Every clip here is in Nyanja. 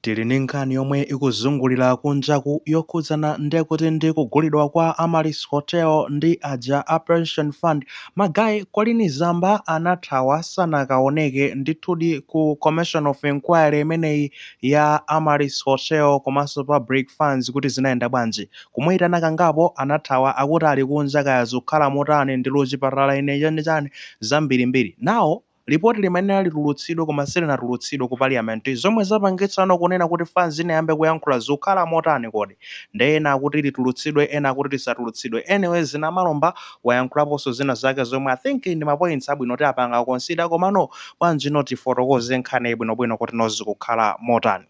Tili ndi nkhani yomwe ikuzungulira kunjaku yokhudzana ndekuti ndi kugulidwa kwa Amaryllis Hotel ndi aja a Pension Fund. Magaye Colleen Zamba anathawa sanakaoneke. Ndithudi ku Commission of Enquiry imeneyi ya Amaryllis Hotel komanso Public Funds kuti zinayenda bwanji. Kumuitana kangapo anathawa akuti ali kunja kaya zukhala motani ndili kuchipatala ine chani chani zambirimbiri. Now. Lipoti limayenera litulutsidwe koma silinatulutsidwe ku parliament zomwe zapangitsano kunena kuti fanz inayambe kuyankhula zukhala motani kodi? Nde ena akuti litulutsidwe ena akuti lisatulutsidwe anyways a Namalomba wayankhulaponso zina zake zomwe I think ndi ma points abwino kuti apanga consider komano bwanji not tifotokoze nkhaniyi bwinobwino kuti no zikukhala motani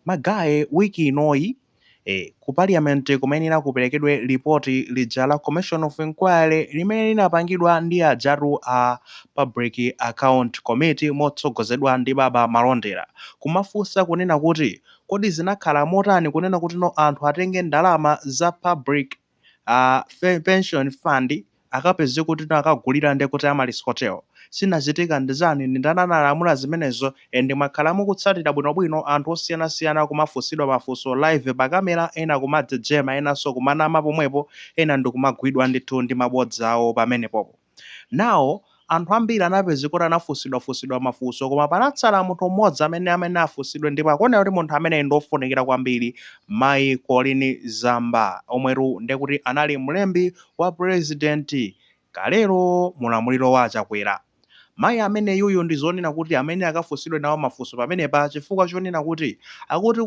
magaye week inoyi e Ku Paliyamenti kumayenera kuperekedwe lipoti lija la Commission of Inquiry limene linapangidwa ndi ajatu a Public Account Committee motsogozedwa ndi Baba Malondera kumafunsa kunena kuti kodi zinakhala motani kunena kutino anthu atenge ndalama za Public a fe- pension fund akapeze kuti no akagulira nde kuti Amaryllis Hotel zinachitika ndi zani ndi ndani analamula zimenezo and mwakhala mukutsatira bwinobwino anthu osiyanasiyana kumafunsidwa mafunso live pa kamera ena kumajejema enanso kumanama pomwepo ena ndikumagwidwa ndithu ndi mabodza awo pamenepopo Now, anthu ambiri anapezeka kuti anafunsidwa funsidwa mafunso koma panatsala munthu mmodzi amene amayenera afunsidwe ndipo akuoneka kuti munthu ameneyi ndi ofunikira kwambiri mayi Colleen Zamba omwetu ndekuti anali mlembi wa president kalero mulamuliro wa Chakwera. Mayi ameneyuyu ndi zonena kuti amayenera akafunsidwe nawo mafunso pamenepa chifukwa chonena kuti akuti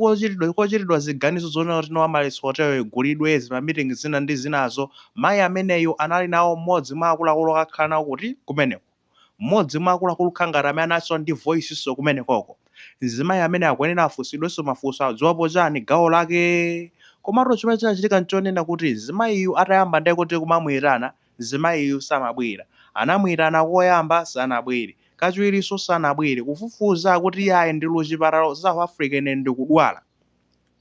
kochitidwa ziganizo zonena kuti no Amaryllis Hotel igulidwe zima meeting zina ndi zinazo Mayi ameneyu anali nawo mmodzi mwa akuluakulu akakhala nawo kuti, kumeneko. Mmodzi mwa akuluakulu kukhala ngati amene analinso ndi voicinso kumenekoko. Mzimayi amene akuyenera afunsidwenso mafunso adziwapo chani gawo lake? Komatu chimene chinachitika nchonena kuti mzimayiyu atayamba nde kuti kumamuitana, mzimayiyu samabwera. Anamuitana koyamba sanabwere. Kachiwirinso sanabwere. Kufufuza akuti iyayi ndili ku chipatala ku South Africa ine ndikudwala.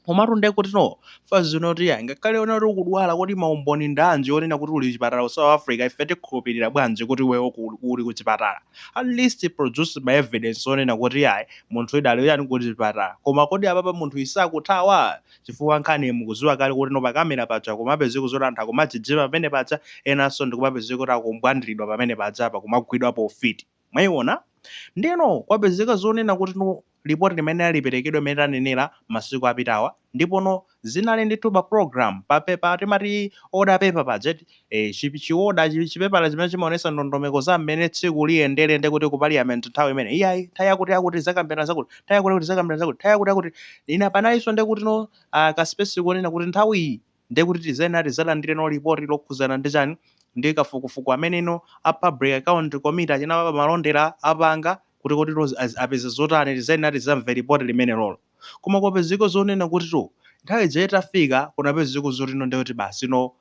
Komatu nde kuti no, fanz inati yayi ngakhale unena kuti ukudwala kodi ma umboni ndi anji onena kuti uli chipatala ku South Africa ife tikhulupirira bwanji kuti iweyo ku- uli ku chipatala at least produce ma evidence onena kuti yayi munthuyi idali yani ku chipatala koma kodi apapa munthuyi sakuthawa chifukwa nkhani mukuziwa kale kuti no pakamera paja kumapezeka zoti anthu akumajejema pamene paja enanso ndikumapezeka kuti akumbwandiridwa pamene paja apa kumagwidwa pa ufiti Mwaiwona? Ndiyeno kwapezeka zonena kuti no, lipoti limene liperekedwe limene tanenera masiku apitawa, ndipo no, zinali ndithu pa program, pa, pa, pa, timati order paper paja, eti, ee, chi, chioda, chi, chipepala chimene chimawonetsa ndondomeko za mmene tsiku liyendere nde kuti ku Parliament nthawi imene, iyayi, nthawi yakutiyakuti tidzakambirana zakuti, nthawi yakutiyakuti tidzakambirana zakuti, nthawi yakutiyakuti, ina panalinso nde kuti no, ah, ka space konena kuti nthawi iyi, Ndiye kuti tizayenera tizalandireno lipoti lokhuzana ndi chani? Ndi kafukufuku ameneno a public account committee achina baba malondera apanga kuti koditu apeza zotani tizayenera tizamve lipoti limenelolo. Koma kwapezeka zonena kutitu nthawi ija itafika kunapezeka zotino ndiye kuti basino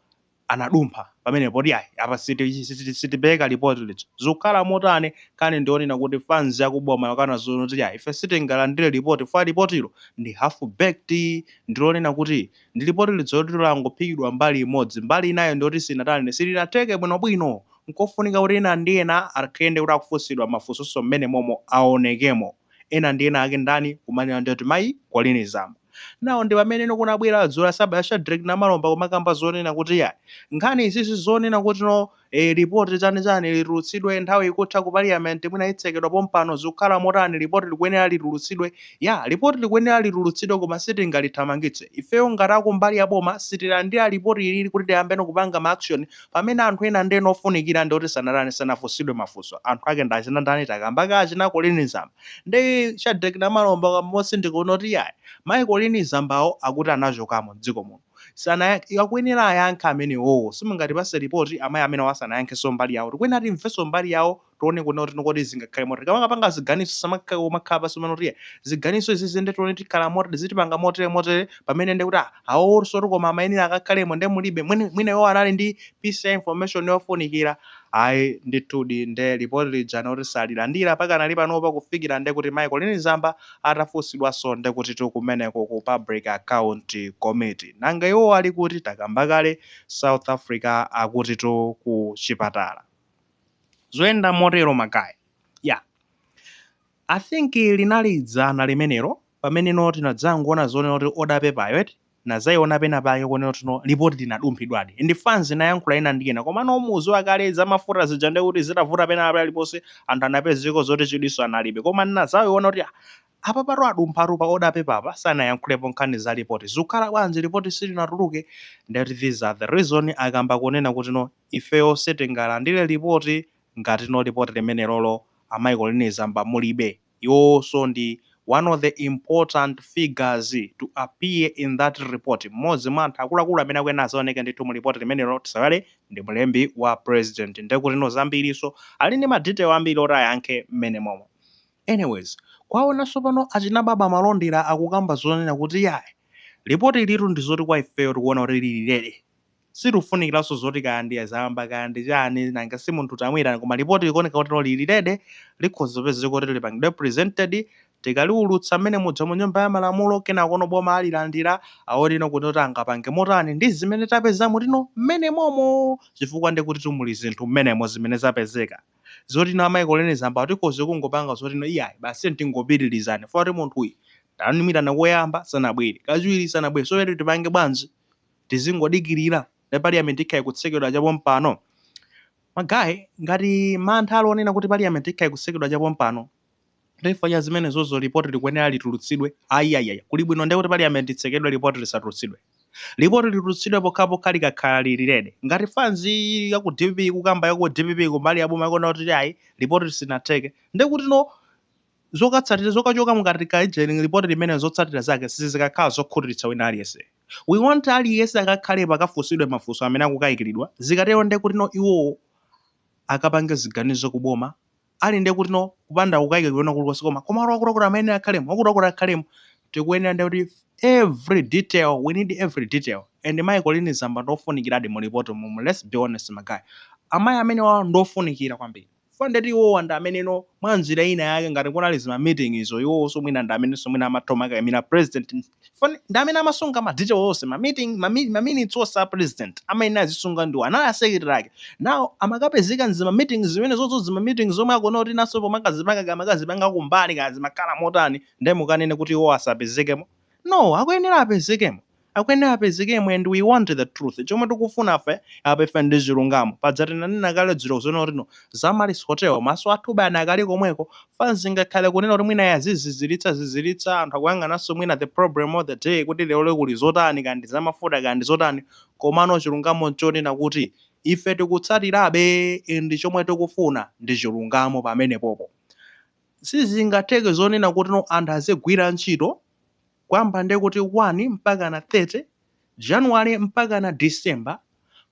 anadumpha pamenepo poti ayi apa sitipeleka lipoti lija. Zikukhala motani nkhani ndiyonena kuti fanzi aku boma akana zoti ayi ife sitingalandire lipoti chifukwa lipotilo ndi half baked ndilonena kuti ndi lipoti lija loti langophikidwa mbali imodzi, mbali inayo ndiyoti sinatani, silinatheke bwinobwino. Nkofunika kuti ena ndi ena ake nde kuti akufunsidwa mafunsoso m'menemomo aonekemo. Ena ndi ena ake ndani? Kumanena ndiyoti mayi Colleen Zamba. Nawo ndi pameneno kunabwera dzulo la sabata Shadreck Namalomba kumakamba zonena kuti iyayi, nkhani izizi zonena kuti no, Eee report chani chani litulutsidwe nthawi ikutha ku parliament mwina itsekedwa pompano zikukhala motani report likuyenera litulutsidwe yeah report likuyenera litulutsidwe koma sitingalithamangitse ifeyo ngati akumbali ya boma sitilandira report ilili kuti tiyambeno kupanga ma action pamene anthu ena ndi ena ofunikira ndioti sanatani sanafunsidwe mafunso anthu ake ndi achina ndani takamba kale achina colleen zamba ndi shadreck namalomba kamba motsindika kunoti yayi mayi colleen zambawo akuti anachokamo mdziko muno sanayankhe iwo akuyenera ayankhe amenewowo simungatipase report amayi amenewo asanayankhenso mbali yawo tikuyenera timvenso mbali yawo tione kunena kuti kodi zingakhale motani tikamakapanga ziganizo tisamakake kumakhala pasi kumene kuti ziganizo izizi nde tione tikhala moti tizitipanga motere motere pamene nde kuti awowonso kuti koma amayenera akakhalemo nde mulibe mwina mwina iwo anali ndi piece ya information yofunikira ayi ndithudi nde report lija noti salilandira pakanali panopa kufikira nde kuti mayi colleen zamba atafusidwaso ndekutitu kumeneko ku public account committee nanga iwowo ali kuti takamba kale south africa akutitu ku chipatala zoyenda motero magaye i think linali dzana limenelo pamene no tinadzangoona zonena kuti order paperyo eti nazaiona pena pake konena kuti no lipoti linadumphidwadi nde fans inayankhula ina ndi ina komano muziwa kale za mafuta zija ndiye kuti zitavuta pena paliponse anthu anapezeko zoti chidwiso analibe koma nazaiona kuti ah, apapatu adumphatu pa order paper apa sanayankhulepo nkhani za lipoti zikukhala bwanji lipoti silinatuluke ndiye kuti these are the reason akamba kunena kuti no ifeyo sitingalandire lipoti ngati no lipoti limenelolo amayi colleen zamba mulibe Iwowonso ndi one of the important figures to appear in that report, mmodzi mwa anthu akuluakulu amene akuyenera azaoneke ndithu mu report limenelo, tisaiwale ndi mlembi wa president ndekutino zambirinso ali ndi ma detail ambiri oti ayankhe mmenemomo. Anyways, komanso pano achina Baba Malondera akukamba zonena kuti iyayi, report ilitu ndizoti kwa ifeyo tikuona kuti lili ready. Sitikufunikiranso zoti kaya ndi azamba kaya ndi chani, nanga si munthu tamuitana koma lipoti likuoneka kutino lili ready, likhoza kupezeka kuti lipangidwe presented, tikaliulutsa mmene muja mu nyumba ya malamulo kenakono boma alilandira, aone no kutino angapange motani ndi zimene tapezamo tino mmenemomo chifukwa nde kutitu muli zinthu mmenemo zimene zapezeka. Zotino amayi Colleen Zamba tikhoza kungopanga zotino iyayi basi tiyeni tingopitiliza chifukwa kuti munthuyu tamuitana koyamba sanabwere, kachiwiri sanabwere so tiyeni tipange bwanji? tizingodikilira ndi parliament ikhala ikutsekedwa chapompano? ma guy ngati mantha ali onena kuti parliament ikhala ikutsekedwa chapompano ndiye chifukwa cha zimenezozo report likuyenera litulutsidwe ayiyayiyaya kuli bwino ndiye kuti parliament itsekedwe report lisatulutsidwe report litulutsidwe pokhapokha likakhala lili lede ngati fans ya ku dpp ikukamba ya ku dpp kumbali ya boma ikuona kuti ayi report lisinatheke ndiye kutino Zokatsatira, zokachoka mukati kajeni report limenelo zotsatira zake sizikakhala zokhutiritsa wina aliyense. We want aliyense akakhalepo akafunsidwe mafunso amene akukaikiridwa, zikatero nde kutino iwowo akapange ziganizo ku boma ali nde kutino kupanda kukaika kwina kulikonse koma koma wakuti wakuti wakuti amayenera akhalemo, wakuti wakuti akhalemo. Tikuyenera nde kuti every detail, we need every detail. And Mayi Colleen Zamba ndi ofunikiradi mu reportimumu, let's be honest ma guy. Amayi amenewawa ndi ofunikira kwambiri. chifukwa ndeti iwowa ndi ameneno mwanjira ina yake ngati kunali zima meeting izo iwowonso mwina ndi amenenso mwina amatha kumakaimira president chifukwa ndi amene amasunga ma detail onse ma meeting ma mi ma minutes onse a president amayenera azisunga ndiwo anali a secretary ake now amakapezeka m'zima meeting zimenezozo zima meeting zomwe akuona kuti Nasopo amakazipanga kaya amakazipanga kumbali kaya zimakhala motani nde mukanene kuti iwowo asapezekemo No akuyenera apezekemo akuyenera apezekemo and we want the truth chomwe tikufunafe apa ife ndi chilungamo paja tinanena kale dzulo zonena kutino za Amaryllis Hotel maso athube anakali komweko fans ingakhale kunena kuti mwina yazizizilitsa zizilitsa anthu akuyang'ananso mwina the problem of the day kuti leroli kuli zotani kaya ndi zamafuta kaya ndi zotani komano chilungamo nchonena kuti ife tikutsatirabe ndi chomwe tikufuna ndi chilungamo pamenepopo Sizingatheke zonena kutino anthu azigwira ntchito kuyamba nde kuti 1 mpakana 30 January mpakana December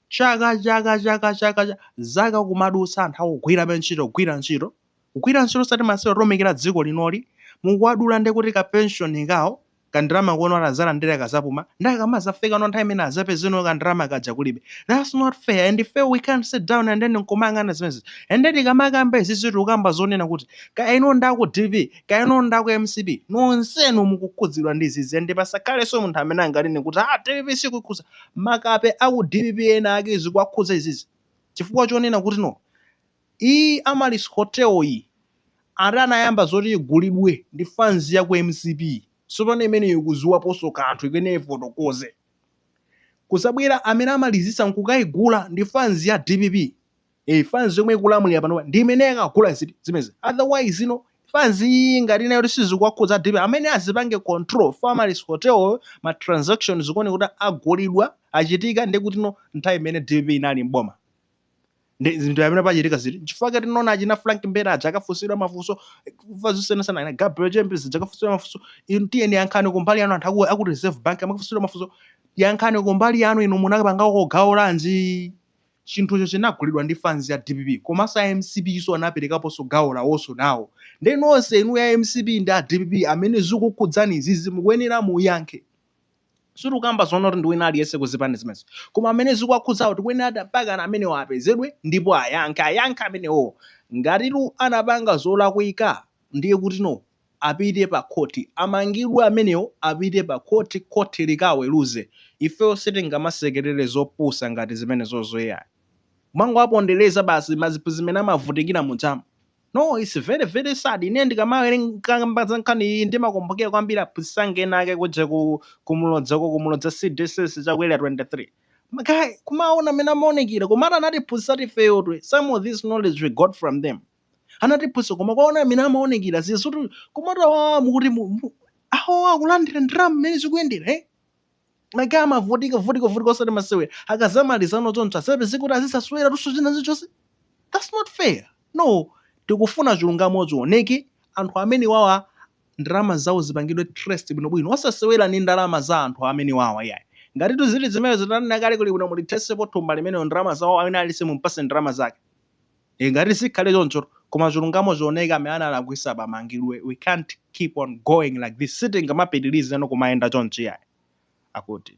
chaka chaka chaka chaka cha zaka kumadutsa anthu akugwirabe ntchito kugwira ntchito kugwira ntchito osati masewera kutumikira dziko linoli mukuwadula nde kuti ka pension kawo kandalama kono ati azalandire akazapuma ndiye akamazafika no nthawi imene azapeze no kandalama kaja kulibe that's not fair and if we can't sit down and then nkumayang'ana zimenezi and then tikamakamba izizi tikukamba zonena kuti kaya inu ndi aku dpp kaya inu ndi aku mcp nonsenu mukukhudzidwa ndi izizi and pasakhalenso munthu amene anganene kuti ah dpp sikukhuza makape aku dpp ena ake zikuwakhudza izizi chifukwa chonena kuti no Iyi Amaryllis Hotel yi ata anayamba zoti igulidwe ndi fans ya ku mcp sopano imeneyo ikuziwaponso kanthu ikuyenera ifotokoze. Kuzabwera amene amalizisa nkukaigula ndi fans ya dpp ee fans yomwe ikulamulira panopa ndi imene yakagula zimezi otherwise ino fans iyi ngati ina yoti sizikuwakhudza a dpp amene azipange control for Amaryllis Hotel yo ma transactions zikuoneka kuti agulidwa achitika ndi kutino nthawi imene dpp inali m'boma ndi zinthu amene pachitika ziti chifukwa tinaona achina frank mbeta aja akafunsidwa mafunso kumva zosiyanasiyana ana gabriel chembezi aja akafunsidwa mafunso inu tiyeni yankhani kumbali yanu anthu aku- aku reserve bank amakafunsidwa mafunso yankhani kumbali yanu inu munapangako gawo lanji chinthucho chinagulidwa ndi fans ya dpp komanso a mcp iso anaperekaponso gawo lawonso nawo ndi nonse inu a mcp ndi a dpp amene zikukhudzani izizi mukuyenera muyankhe Sitikukamba zonena kuti ndi wina aliyense ku zipani zimenezo koma amene zikuwakhudzawo akuyenera mpakana amenewo apezedwe ndipo ayankhe ayankhe amenewowo ngatitu anapanga zolakwika ndiye kutino apite pa khoti amangidwe amenewo apite pa khoti khoti likaweruze ifeyo sitingamasekerere zopusa ngati zimenezozo iyayi kumangowapondereza basi maziphunzitsi mmene amavutikira muja. No, it's very very sad. Ine ndikamawerenga kamba za nkhani iyi ndimakumbukira kwambiri aphunzitsi anga ena ake kuja ku kumulodza kumulodza CDSS chakwera 23. Ma guy kumaona mmene amaonekera koma ati anatiphunzitsa tu ifeyo eti some of this knowledge we got from them. Anatiphunzitsa koma kuwaona mmene amaonekera zizitu koma ati wa mukuti mu- mu- awo akulandira ndalama mmene zikuyendera eh? ma guy amavutika vutika vutika osati masewera akazamalizano choncho asapeze kuti azizasewera tunso china zichonse that's not fair no tikufuna chilungamo chioneke anthu amene wawa ndalama zawo zipangidwe trace bwinobwino osasewera ni ndalama za anthu amene wawa yayi ngati tu zili zimenezi tanena kale kuli bwino mulithesepo thumba limenelo ndalama zawo wina aliyense mumpase ndalama zake e ngati sikhale choncho koma chilungamo chioneke amene analakwisa apa amangidwe we can't keep on going like this sitingamapitirize no kumayenda chonchi yayi. Akuti.